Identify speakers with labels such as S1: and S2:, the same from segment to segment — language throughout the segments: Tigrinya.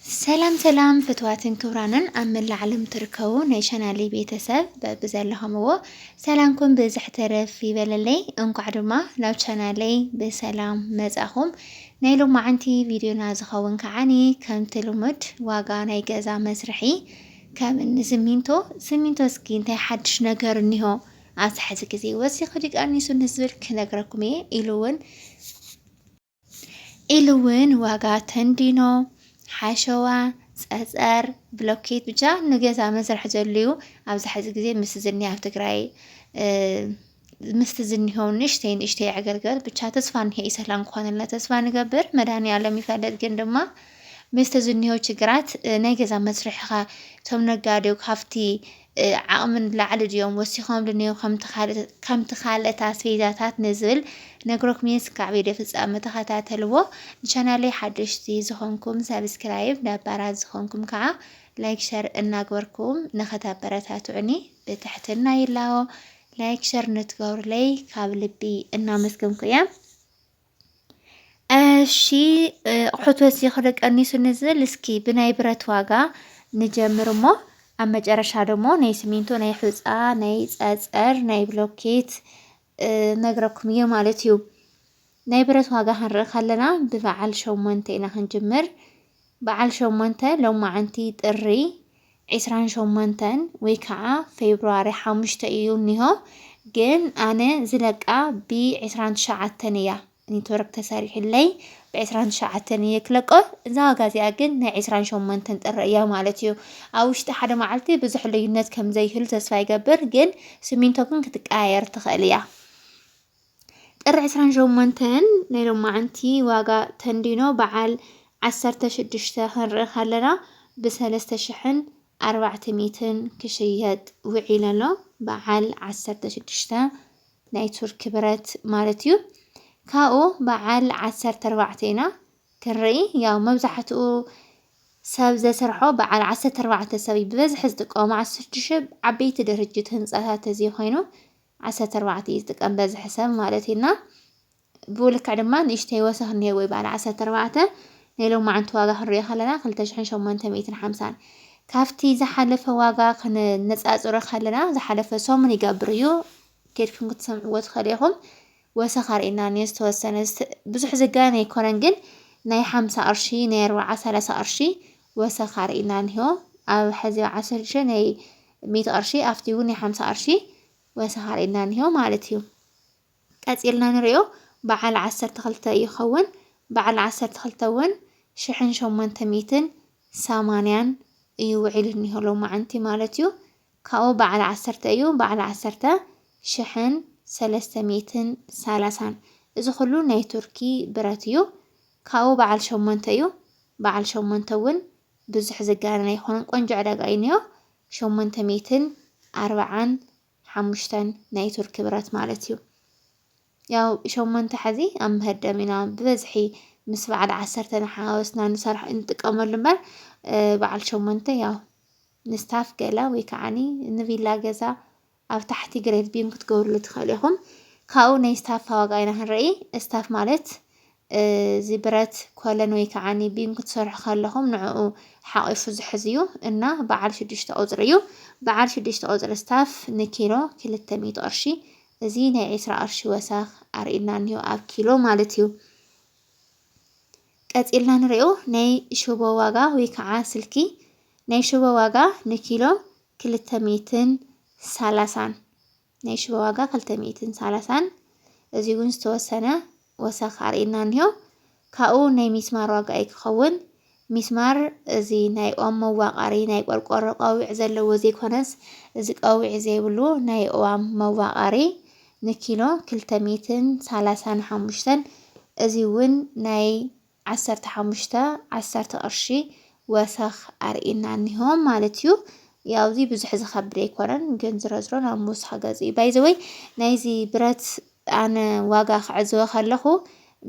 S1: ሰላም ሰላም ፍትዋትን ክብራንን ኣብ መላእ ዓለም ትርከቡ ናይ ቻናሊ ቤተሰብ በብዘለኹምዎ ሰላምኩም ብዝሕ ተረፍ ይበለለይ። እንኳዕ ድማ ናብ ቻናለይ ብሰላም መጻኹም። ናይ ሎማዓንቲ ቪድዮና ዝኸውን ከዓኒ ከምቲ ልሙድ ዋጋ ናይ ገዛ መስርሒ ከም እኒ ስሚንቶ ስሚንቶ እስኪ እንታይ ሓድሽ ነገር እኒሆ ኣብዚ ሕዚ ግዜ ወሲኹ ዲቃኒሱ ንዝብል ክነግረኩም እየ ኢሉ እውን ኢሉ እውን ዋጋ ተንዲኖ፣ ሓሸዋ፣ ፀፀር፣ ብሎኬት ብቻ ንገዛ መስርሒ ዘድልዩ ኣብዚ ሕዚ ግዜ ምስ ዝኒ ኣብ ትግራይ ምስቲ ዝኒሆ ንእሽተይ ንእሽተይ ዕገልገል ብቻ ተስፋ እንሄ እዩ ሰላም ክኾነልና ተስፋ ንገብር መድሃኒኣለም ይፈልጥ ግን ድማ ምስቲ ዝኒሆ ችግራት ናይ ገዛ መስርሕኻ እቶም ነጋዴው ካብቲ ዓቕሚ ንላዕሊ ድዮም ወሲኾም ድንዮም ከምቲ ካልእት ኣስቤዛታት ንዝብል ነግረኩምየ ስካዕ ቪድዮ ፍጻመ ተኸታተልዎ ንቻናለይ ሓደሽቲ ዝኾንኩም ሳብስክራይብ ነባራት ዝኾንኩም ከዓ ላይክ ሸር እናግበርኩም ንኸተበረታትዑኒ ብትሕትና ይላዎ ላይክ ሸር ንትገብሩለይ ካብ ልቢ እናመስገንኩ እየ እሺ ኣቑሑት በዚኺ ዶ ቀኒሱ ንዝብል እስኪ ብናይ ብረት ዋጋ ንጀምር እሞ ኣብ መጨረሻ ደሞ ናይ ስሚንቶ፣ ናይ ሑፃ፣ ናይ ፀፀር፣ ናይ ብሎኬት ነግረኩም እየ ማለት እዩ። ናይ ብረት ዋጋ ክንርኢ ከለና ብበዓል ሸሞንተ ኢና ክንጅምር። በዓል ሸሞንተ ሎማዕንቲ ጥሪ ዕስራን ሸሞንተን ወይ ከኣ ፌብርዋሪ ሓሙሽተ እዩ እኒሆ ግን ኣነ ዝለቃ ብ ዕስራን ትሽዓተን እያ ኔትወርክ ተሰሪሑለይ ብ ዕስራን ትሽዓተን እየ ክለቆ እዛ ዋጋ እዚኣ ግን ናይ ዕስራን ሸሞንተን ጥሪ እያ ማለት እዩ ኣብ ውሽጢ ሓደ መዓልቲ ብዙሕ ልዩነት ከም ዘይህሉ ተስፋ ይገብር ግን ስሚንቶ ግን ክትቀያየር ትኽእል እያ ጥሪ ዕስራን ሸሞንተን ናይ ሎማዓንቲ ዋጋ ተንዲኖ በዓል ዓሰርተ ሽዱሽተ ክንርኢ ከለና ብ ሰለስተ ሽሕን ኣርባዕተ ሚእትን ክሽየጥ ውዒሉ ኣሎ በዓል ዓሰርተ ሽዱሽተ ናይ ቱርኪ ብረት ማለት እዩ ካብኡ በዓል ዓሰርተ ኣርባዕተ ኢና ክንርኢ ያው መብዛሕትኡ ሰብ ዘስርሖ በዓል ዓሰርተ ኣርባዕተ ሰብ እዩ ብበዝሒ ዝጥቀሙ ዓሰርተ ሽሕ ዓበይቲ ድርጅት ህንፃታት እዚ ኮይኑ ዓሰርተ ኣርባዕተ እዩ ዝጥቀም በዝሒ ሰብ ማለት እዩ እና ብኡ ልክዕ ድማ ንእሽተይ ወሰኽ እኒሄ ወይ በዓል ዓሰርተ ኣርባዕተ ናይ ሎማዓንቲ ዋጋ ክንሪኦ ከለና ክልተ ሽሕን ሸሞንተ ሚእትን ሓምሳን ካብቲ ዝሓለፈ ዋጋ ክነነፃፅሮ ከለና ዝሓለፈ ሰሙን ይገብር እዩ ኬድኩም ክትሰምዕዎ ትኽእሉ ኢኹም ወሰኽ ኣርእና እኒኦ ዝተወሰነ ብዙሕ ዝጋነ ኣይኮነን ግን ናይ ሓምሳ ቅርሺ ናይ ኣርባዓ ሰላሳ ቅርሺ ወሰኽ ኣርኢና እንሆ ኣብ ሐዚ ኣብ ዓሰርተ ሽዱሽተ ናይ ሚእቲ ቅርሺ ኣብቲ እውን ናይ ሓምሳ ቅርሺ ወሰኽ ኣርኢና እንሆ ማለት እዩ። ቀፂልና ንሪኦ በዓል ዓሰርተ ክልተ ይኸውን። በዓል ዓሰርተ ክልተ እውን ሽሕን ሸሞንተ ሚእትን ሰማንያን እዩ ውዒሉ እኒሆ ሎማዕንቲ ማለት እዩ። ካብኡ በዓል ዓሰርተ እዩ በዓል ዓሰርተ ሽሕን ሰለስተ ሚእትን ሰላሳን እዚ ኩሉ ናይ ቱርኪ ብረት እዩ። ካብኡ በዓል ሸሞንተ እዩ በዓል ሸሞንተ እውን ብዙሕ ዝጋነን ኣይኮነን ቆንጆ ዕዳጋ እዩ እኒኦ ሸሞንተ ሚእትን ኣርብዓን ሓሙሽተን ናይ ቱርኪ ብረት ማለት እዩ ያው ሸሞንተ ሕዚ ኣብ ምህርደም ኢና ብበዝሒ ምስ በዓል ዓሰርተ ንሓዋወስና ንሰርሕ እንጥቀመሉ እምበር በዓል ሸሞንተ ያው ንስታፍ ገላ ወይ ከዓኒ ንቪላ ገዛ ኣብ ታሕቲ ግሬት ቢን ክትገብርሉ ትክእሉ ኢኩም ካብኡ ናይ ስታፋ ዋጋ ኢና ክንርኢ ስታፍ ማለት እዚ ብረት ኮለን ወይ ከዓ ቢም ክትሰርሑ ከለኹም ንዕኡ ሓቂፉ ዝሕዝ እዩ እና በዓል ሽዱሽተ ቁፅሪ እዩ በዓል ሽዱሽተ ቁፅሪ ስታፍ ንኪሎ ክልተ ሚእቲ ቅርሺ እዚ ናይ ዒስራ ቅርሺ ወሰኽ ኣርእና እኒሆ ኣብ ኪሎ ማለት እዩ ቀፂልና ንሪኦ ናይ ሽቦ ዋጋ ወይ ከዓ ስልኪ ናይ ሽቦ ዋጋ ንኪሎ ክልተ ሚእትን ሳላሳን፣ ናይ ሽቦ ዋጋ ክልተ ሚእትን ሳላሳን፣ እዚ እውን ዝተወሰነ ወሰኽ ኣርእዩና እኒሆ። ካብኡ ናይ ሚስማር ዋጋ እዩ ክኸውን። ሚስማር እዚ ናይ ኦም መዋቃሪ ናይ ቆርቆሮ ቀዊዕ ዘለዎ ዘይኮነስ እዚ ቀዊዕ ዘይብሉ ናይ ኦዋም መዋቃሪ ንኪሎ ክልተ ሚእትን ሳላሳን ሓሙሽተን እዚ እውን ናይ ዓሰርተ ሓሙሽተ ዓሰርተ ቅርሺ ወሰኽ ኣርእዩና እኒሆ ማለት እዩ። ያው እዚ ብዙሕ ዝኸብድ ኣይኮነን ግን ዝረዝሮ ናብ ምውሳኽ ገፅ እዩ። ባይዘወይ ናይዚ ብረት ኣነ ዋጋ ክዕዝቦ ከለኹ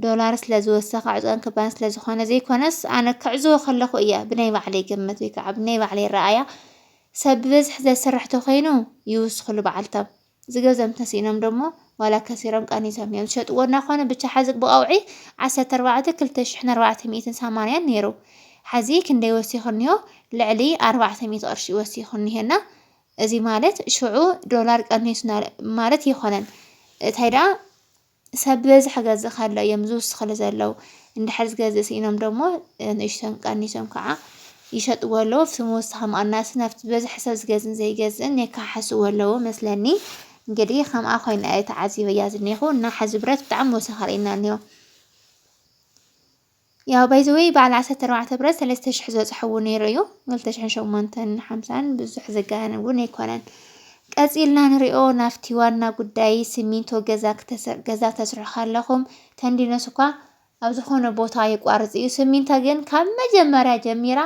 S1: ዶላር ስለ ዝወሰኸ ዕፅዋን ክባን ስለ ዝኾነ ዘይኮነስ ኣነ ክዕዝቦ ከለኹ እየ ብናይ ባዕለይ ግምት ወይ ከዓ ብናይ ባዕለይ ረኣያ ሰብ ብበዝሒ ዘስርሕ ተኮይኑ ይውስኽሉ በዓልቶም ዝገዘም ተሲኢኖም ደሞ ዋላ ከሲሮም ቀኒሶም እዮም ዝሸጥዎ እናኾነ ብቻ ሓዚ ብቐውዒ ዓሰርተ ኣርባዕተ ክልተ ሽሕን ኣርባዕተ ሚእትን ሰማንያን ነይሩ ሓዚ ክንደይ ወሲኹ እኒሆ ልዕሊ ኣርባዕተ ሚእቲ ቅርሺ እዩ ወሲኹ እኒሄና እዚ ማለት ሽዑ ዶላር ቀኒሱና ማለት ኣይኮነን እንታይ ደኣ ሰብ ብበዝሒ ክገዝእ ከሎ እዮም ዝውስኽሉ ዘለዉ። እንድሕር ዝገዝእ ስኢኖም ደሞ ንእሽተን ቀኒሶም ከዓ ይሸጥዎ ኣለዉ። ኣብቲ ምውሳኽ ምቕናስ ናብቲ ብበዝሒ ሰብ ዝገዝእን ዘይገዝእን የከሓሕስዎ ኣለዉ መስለኒ። እንግዲህ ከምኣ ኮይነ ተዓዚበያ ዝኒኹ እና ሕዚ ብረት ብጣዕሚ ወሰኽ ኣርእየና እኒሆ። ያው ባይ ዘ ዌይ በዓል ዓሰርተ ኣርባዕተ ብረት ሰለስተ ሽሕ ዝበጽሐዎ ነይሩ እዩ ክልተ ሽሕን ሸሞንተን ሓምሳን ብዙሕ ዘጋነን እውን ኣይኮነን ቀጺልና ንሪኦ ናብቲ ዋና ጉዳይ ሲሚንቶ ገዛ ክተሰ- ገዛ ተስርሑ ከለኹም ተንዲኖስ እኳ ኣብ ዝኾነ ቦታ የቋርጽ እዩ ሲሚንቶ ግን ካብ መጀመርያ ጀሚራ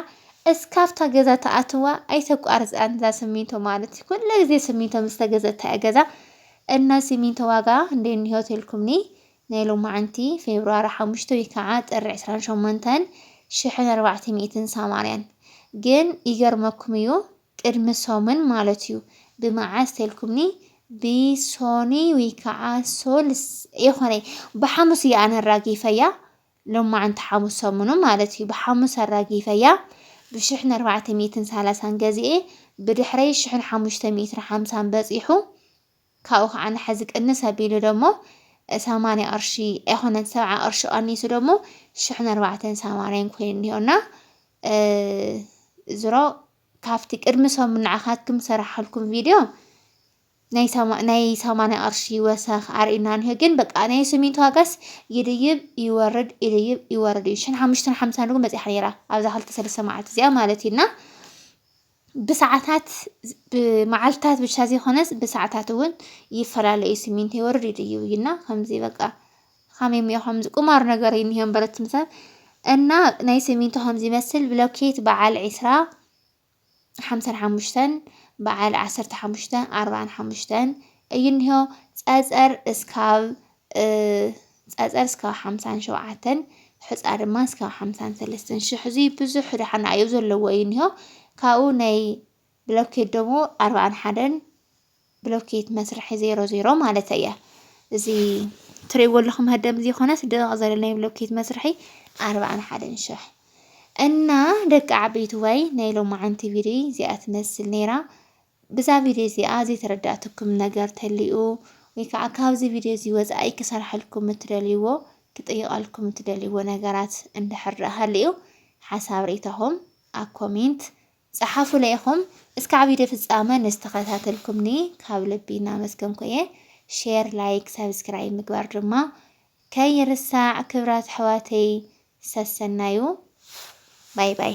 S1: እስካብታ ገዛ ተኣትዋ ኣይተቋርጽን እዛ ሲሚንቶ ማለት እዩ ኩሉ ግዜ ሲሚንቶ ምስ ተገዘእታ እያ ገዛ እና ሲሚንቶ ዋጋ እንዴት እንሄው ተልኩምኒ ናይ ሎማዕንቲ ፌብርዋሪ ሓሙሽተ ወይ ካዓ ጥሪ ዕስራን ሸሞንተን ሽሕን ኣርባዕተ ሚእትን ሳማንያን ግን ይገርመኩም እዩ ቅድሚ ሶምን ማለት እዩ ብማዓስ ተልኩምኒ ብሶኒ ወይ ካዓ ሶልስ የኾነ ብሓሙስ እየ ኣነ ኣራጊፈያ ሎማዕንቲ ሓሙስ ሰሙኑ ማለት እዩ ብሓሙስ ኣራጊፈያ ብሽሕን ኣርባዕተ ሚእትን ሳላሳን ገዚኤ ብድሕረይ ሽሕን ሓሙሽተ ሚእትን ሓምሳን በፂሑ ካብኡ ከኣ ንሓዚ ቅንስ ኣቢሉ ደሞ ሰማንያ ቅርሺ ኣይኮነን ሰብዓ ቅርሺ ቀኒሱ ደሞ ሽሕን ኣርባዕተን ሳማርያን ኮይኑ እኒሆ እና ዝሮ ካብቲ ቅድሚ ሰሙን ንዓኻትኩም ሰራሓልኩም ቪድዮ ናይ ሰማ- ናይ ሰማንያ ቅርሺ ወሰኽ ኣርእዩና እኒሆ ግን በቃ ናይ ስሚንቶ ዋጋስ ይድይብ ይወርድ ይድይብ ይወርድ እዩ ሽን ሓሙሽተን ሓምሳን እውን በፂሓ ነይራ ኣብዛ ክልተ ሰለስተ መዓልቲ እዚኣ ማለት እዩ እና ብሰዓታት ብመዓልታት ብቻ ዘይኮነስ ብሰዓታት እውን ይፈላለ እዩ ስሚንቶ ይወርድ እዩ እና ከምዚ በቃ ከመይ እሞ ከምዚ ቁማር ነገር እዩ እኒሀ እምበር እቲ ምሳል እና ናይ ስሚንቶ ከምዚ ይመስል ብሎኬት በዓል ዕስራ ሓምሳን ሓሙሽተን በዓል ዓሰርተ ሓሙሽተ ኣርብዓን ሓሙሽተን እዩ እኒሀ ፀፀር እስካብ ጸጸር እስካብ ሓምሳን ሸውዓተን ሕጻ ድማ እስካብ ሓምሳን ሰለስተን ሽሕ እዚ ብዙሕ ዳሕና ኣዩ ዘለዎ እዩ እኒሆ ካብኡ ናይ ብሎኬት ደሞ ኣርባዓን ሓደን ብሎኬት መስርሒ ዜሮ ዜሮ ማለት እያ እዚ ትሪእዎ ኣለኹም ህደም እዚ ኮነ ስደቕ ዘለ ናይ ብሎኬት መስርሒ ኣርባዓን ሓደን ሽሕ እና ደቂ ዓበይቲ ወይ ናይ ሎማዓንቲ ቪድዮ እዚኣ ትመስል ነይራ ብዛ ቪድዮ እዚኣ ዘይተረዳእትኩም ነገር ተልዩ ወይ ከዓ ካብዚ ቪድዮ እዚ ወፃኢ ክሰርሐልኩም እትደልይዎ ክጥይቐልኩም እትደልይዎ ነገራት እንድሕር ሃልዩ ሓሳብ ርኢታኹም ኣብ ኮሜንት ፀሓፉለይ ኢኹም። እስካዕ ቪድዮ ፍፃመ ንዝተኸታተልኩምኒ ካብ ልቢ እናመስገንኩ እየ። ሼር፣ ላይክ፣ ሰብስክራይብ ምግባር ድማ ከይርሳዕ ክብራት ኣሕዋተይ ሰሰናዩ ባይ ባይ።